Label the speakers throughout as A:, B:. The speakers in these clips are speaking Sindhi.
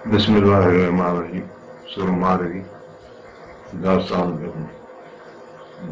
A: بسم الله الرحمن الرحيم سورة مارئي داستان ڏهون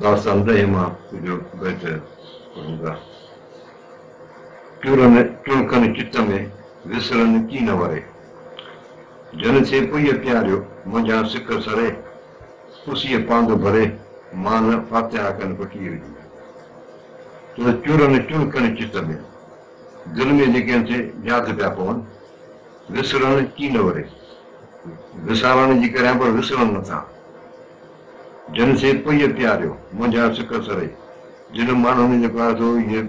A: داستان ڏهين مان ڪجهه بيت پڙهون ٿا ٽڙن ٽڙڪن چت ۾ وسرن ڪي نه وري جن سي پئي پياريو منجهان سڪ سري پسيء پاند ڀري مان نه فاتحا ڪن پٽيء جي ته چرن چڙڪن چت ۾. دل ۾ جيڪي انٿي جاک پيا پون، وسرڻ ڪي نه وري، وسارڻ جي ڪريان پر وسرڻ نٿا، جن سين پئي پياريو، منجهان سڪ سري، جن ماڻهن جيڪو آهي سو اهي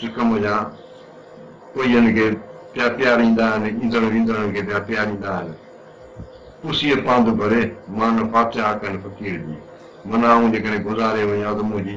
A: سڪ منجهان پئين کي پيا پياريندا آهن، ايندڙ ويندڙن کي پيا پياريندا آهن، پسيء پانڌ ڀري، مان نه فاتحه ڪن فقير جي، منان آئون جيڪڏهن گذاري وڃان ته منهنجي.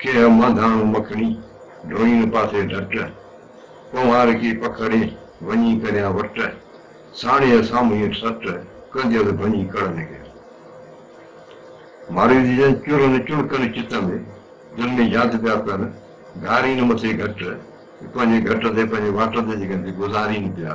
A: ڪيهه مانڌاڻو مکڻي، ڍوئين پاسي ڍٽ، ڪنوار ڪي پکڙي، وڃي ڪريان وٽ، ساڻيهه سامهين سٽ، ڪنديس ڀڃي ڪڙ ۾ گهير. مارئي جي جن چرن چڻڪن چت ۾، دل ۾ ياد پيا ڪن، گهارين مٿي گهٽ، پنهنجي گهٽ تي پنهنجي واٽ تي جيڪڏهن به گذارين پيا،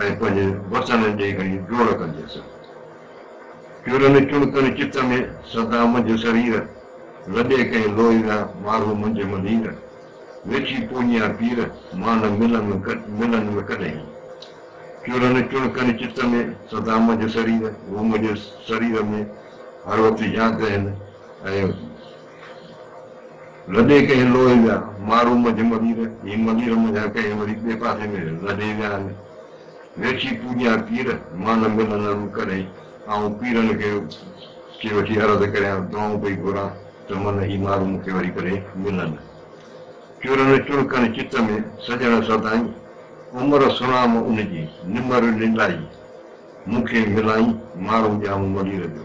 A: ۽ پنهنجي وسڻ ڏي گهڙي ڊوڙ ڪندي سر چورن چڻڪن چت ۾ سدا منجهه سرير لڏي ڪنهن لوهيڙا مارو منجهه ملير ويٺي پونيان پير مان نه ملن ملن م ڪڏهين چورن چڻڪن چت ۾ سدا منجهه سرير هو منجهه سرير ۾ هر وقت ياد رهن ۽ لڏي ڪنهن لوهي جا مارو منجهه ملير، هي ملير منجهان ڪنهن وري ٻئي پاسي ۾ لڏي ويا آهن. ويٺي پوڄيان پير، مان نه ملندم ڪڏهن، آئون پيرن کي کي وٺي عرض ڪريان، دعائون پئي گهران ته من هي مارو مون کي وري ڪڏهن ملن. چرن چڻڪڻ چت ۾، سڄڻ سدائين، عمر سڻام ان جي، نمر نلائي، مون کي ملائين، مارو ڄامو ملير جو.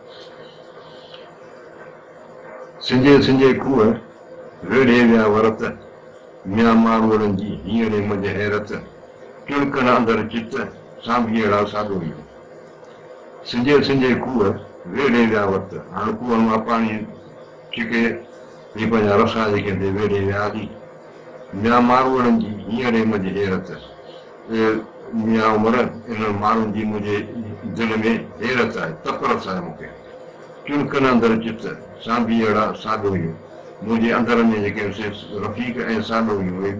A: سنجهي سنجهي کوهه ويڙهي ويا ورت، ميان ماروئڙن جي هينئڙي منجهه حيرت، ٽڻڪڻ اندر چت، سانڀيئڙا ساڳوئيون. سنجهي سنجهي کوهه ويڙهي ويا ورت، هاڻ کوهن مان پاڻي ڇڪي هي پنهنجا رسا جيڪي ٿي ويڙهي ويا هلي، ميان ماروئڙن جي هينئڙي منجهه حيرت. اي ميان عمر! انهن ماڻهن جي منهنجي دل ۾ حيرت آهي، تپرس آهي مون کي. چڻڪن اندر چت، سانڀي اهڙا ساڏوهيون، منهنجي اندر ۾ جيڪي سي رفيق ۽ ساڏوهيون، اهي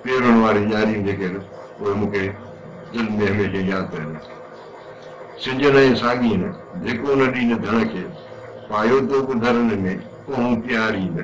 A: پيرن واريون ڄاريون جيڪي اهي مون کي دل ۾ هميشه ياد پيا رکن. سنجن ۽ ساڳين، ڌڪ ان ڏينهن ڌڻ کي، پايو تو ٻڌرن ۾، ڪونهون پيار ئي نه.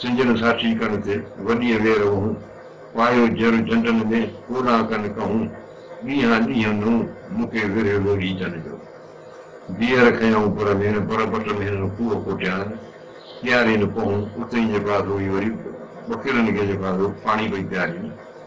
A: سنجن ساٺي ڪن تي وڏيء وير وهون، پايو جر جنڊن ۾، ڪوڏان ڪن ڪهون، ڏينهان ڏينهن نون، مڪي ورهيه لوڏي جن جو. بيهر کنيائون پر ڀيڻ، پر پٽ ۾ هنن کوهه کوٽيائين، پيارين ڪهون، اتينجي پاسو ئي وري ٻڪرين کي جيڪا هو پاڻي پئي پيارين.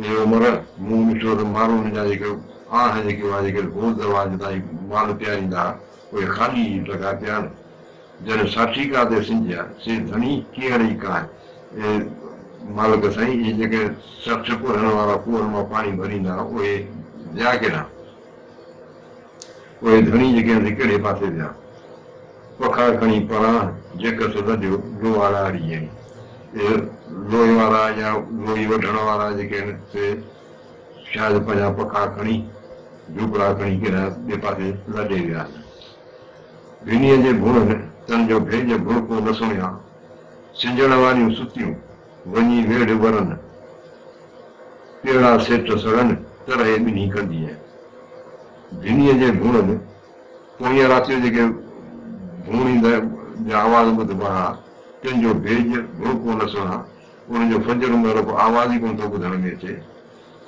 A: اي عمر! مون ڏٺو ته ماڻهو هن جا جيڪي آهه جيڪي اها جيڪي گول دروازي تائين مال پياريندا ها، اهي خالي ئي ٽڪا پيا آهن. جڏهن ساٺي ڪا تي سنجهي ها، سي ڌڻي ڪيئڙ ئي ڪا آهي. اي مالڪ سائين! اهي جيڪي سرٺ ڪورهن وارا کوهن مان پاڻي ڀريندا ها، اهي ويا ڪيڏانهن؟ پوء ڌڻي جي ڪنهن تي ڪهڙي پاسي ويا. پکا کڻي پران جيڪ سڌ جو لوء لاڙي جي اهي لوء وارا يا لوئي وڍڻ وارا جيڪي آهن سي شايد پنهنجا پکا کڻي جهوپڙا کڻي ڪيڏانهن ٻئي پاسي لڏي ويا آهن. ڀينيء جي ڀونء ۾ تن جو ڀيڄ ڀڻڪو نه سڻيا. سنجهڻ واريون ستيون. وڃي ويڙهه ورن، ڪهڙا سيٽ سڙن، ڪرهي ٻنهي ڪندينء. ڌنيء جي ڀونئن، پوئينء رات جو جيڪي ڀونئيندڙ جا آواز ٻڌبا ها، تن جو ڀيڄ، ڀڙڪو نه سڻان، ان جو فجر مهل ڪو آواز ئي ڪونه ٿو ٻڌڻ ۾ اچي.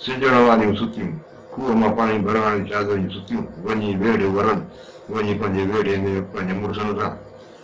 A: سڄڻ واريون ستيون، کوهه مان پاڻي ڀرڻ واريون شاهزريون ستيون، وڃي ويڙهه ورن، وڃي پنهنجي ويڙهي ۾ پنهنجن مڙسن سان.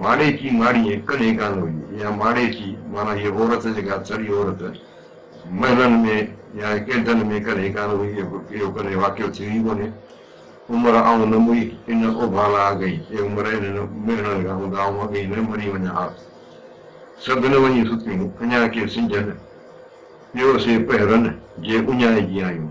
A: ماڙي چي ماڙي ۽ ڪن ايڪان هئي يا ماڙي چي معنيٰ هيء عورت جيڪا سڙي عورت محلن ۾ يا ڪينٽن ۾ ڪن ايڪان هئي اهو ڪڏهن واقعو ٿيو ئي ڪونهي. عمر آئون نه مري ان اوڀالا اڳئي اي عمر انهن مهڻن کان هوندا آئون اڳئي نه مري وڃان ها. سڀ نه وڃي ستيون اڃا ڪي سنجهن پيو سي پهرن جي اڃائي جي آيون.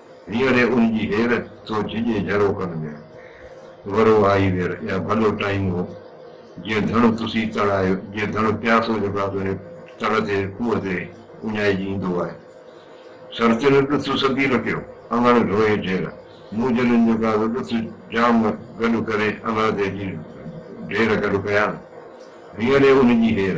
A: ويري ان جي هير ٿو جهڄي جهروڪن ۾، ورو آهي وير يا ڀلو ٽائيم هو، جيئن ڌڻ تسي تڙ آهيو، جيئن ڌڻ پياسو جيڪو آهي تنهنجي تڙ تي کوهه تي اڃائجي ايندو آهي. سر تل ڏٿ سبي لڪيو، انڱڻ ڍوئي ڍير، مون جڏهن جيڪو آهي سو ڏٿ جام گڏ ڪري انڱڻ تي اچي ڍير گڏ ڪيا، ويري ان جي هير.